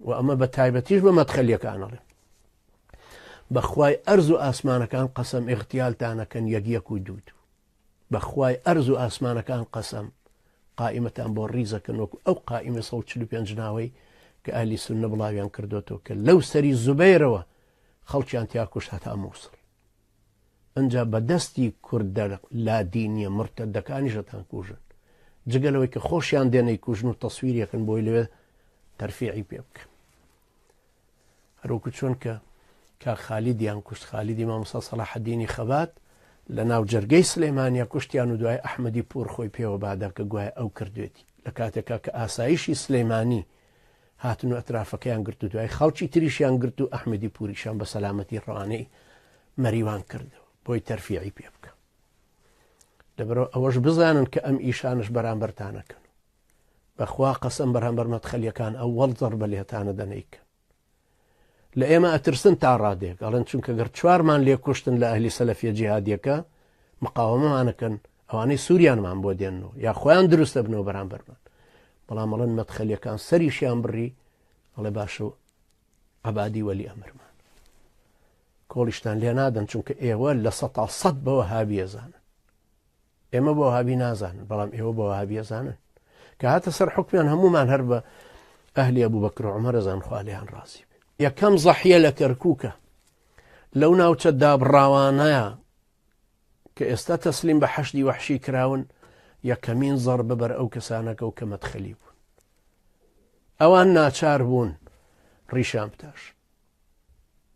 وە ئەمە بە تایبەتیش بە مەدخەلیەکان ئەڵێم بەخوای ئەرز و ئاسمانەکان قەسەم ئیغتیالتانەکەن یەک یەک و دوو دوو بەخوای ئەرز و ئاسمانەکان قەسەم قائیمەتان بۆ ڕیزەکەن وەکو ئەو قائیمە 145 ناوەی کە ئالی سنە بڵاویان کردوەوە کە لەو سەری زوبەیرەوە خەڵکیان تیاکوش هەتا مووسڵ ئەنجا بە دەستی کوردە لادینیە مرتەدەکانیش ئەتانکوژن جگە لەوەی کە خۆشیان دێن ئەیکوژن و تەسویریەکن بۆی لەوێ تەرفیعی پێ بکەن هەروکو چۆن کە کاک خالیدیان کوشت خالیدی مامۆستا سەلاحەدینی خەبات لە ناو جەرگەی سلێمانیا کوشتیان و دوای ئەحمەدی پور خۆی پێوە بادا کە گوایە ئەو کردوێتی لە کاتێکا کە ئاسایشی سلەیمانی هاتن و ئەترافەکەیان گرت و دوای خەڵکی تریشیان گرت و ئەحمەدی پوریشان بە سەلامەتی ڕەوانەی مەریوان کرد بۆی تەرفیعی پێ بکە لەبەرەوە ئەوەش بزانن کە ئەم ئیشانش بەرامبەرتانەکەن بەخوا قەسم بەرامبەر مەتخەلیەکان ئەوەڵ زەڕ بە لێتانە دەنیکە لە ئێمە ئەترسن تا ڕادەیەک ئەڵێن چونکە گەر چوارمان لێ کوشتن لە ئەهلی سەلەفیە جیهادیەکە مقاوەمەمان ئەکەن ئەوانەی سوریانمان بۆ دێننەوە یا خۆیان دروست دەبنەوە بەرامبەرمان بەڵام ئەڵێن مەدخەلیەکان سەریشیان بڕی ئەڵێ باشە و عبادی وەلی ئەمرمان کۆڵیشتان لێ نادەن چونکە ئێوە لە سە تا سەد بەوە هاویێزانە ئێمە بە وەهابی نازانن بەڵام ئێوە بە وەهابی ئەزانن کە هاتە سەر حکمیان هەمومان هەر بە ئەهلی ئەبوو بەکر و عمەرە زان خالیان ڕازی بێ یەکەم زەحیە لە کەرکووکە لەو ناوچە دابڕاوانەیە کە ئێستا تەسلیم بە حەشدی وەحشی کراون یەکەمین زەڕ بەبەر ئەو کەسانەکە و کە مەدخەلی بوون ئەوان ناچار بوون ڕیشان بتاش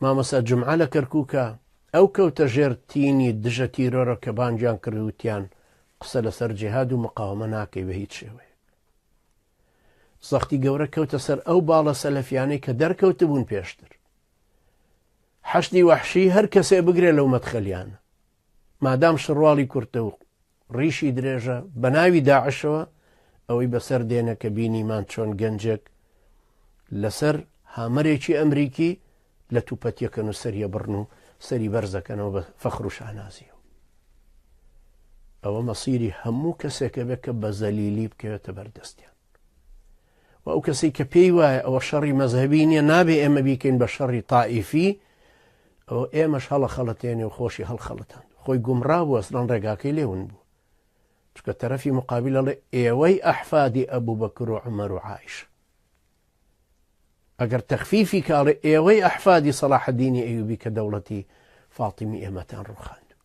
مامۆستا جومعە لە کەرکوکە ئەو کەوتە ژێر تینی دژە تیرۆرە کە بانگیان کرد وتیان قسە لەسەر جیهاد و مقاومە ناکەی بە هیچ شێوەیە زەختی گەورە کەوتە سەر ئەو باڵە سەلەفیانەی کە دەرکەوتبوون پێشتر حەشدی وەحشی هەر کەسێ بگرێ لەو مەدخەلیانە مادام شڕواڵی کورتە و ڕیشی درێژە بە ناوی داعشەوە ئەوەی بەسەر دێنە کە بینیمان چۆن گەنجێک لەسەر هامەرێکی ئەمریکی لە توپەتیەکەن و سەریە بڕن و سەری بەرزەکەنەوە بە فەخروشانازیە ئەوە مەسیری هەموو کەسێکە بێت کە بە زەلیلی بکەوێتە بەردەستیان وە ئەو کەسەی کە پێی وایە ئەوە شەڕی مەزهەبی نیە نابێ ئێمە بیکەین بە شەڕی تائیفی ئەوە ئێمەش هەڵە خەڵەتێنێ و خۆشی هەڵخەڵەتان خۆی گومڕا بوو ئەسلان ڕێگاکەی لێون بوو چکە تەرەفی مقابل ئەڵێ ئێوەی ئەحفادی ئەبوو بە کرۆ عمەر و عیش ئەگەر تەخفیفی کاڵێ ئێوەی ئەحفادی سەڵاحدینی ئەیوبی کە دەوڵەتی فاتیمی ئێمەتان ڕوخاند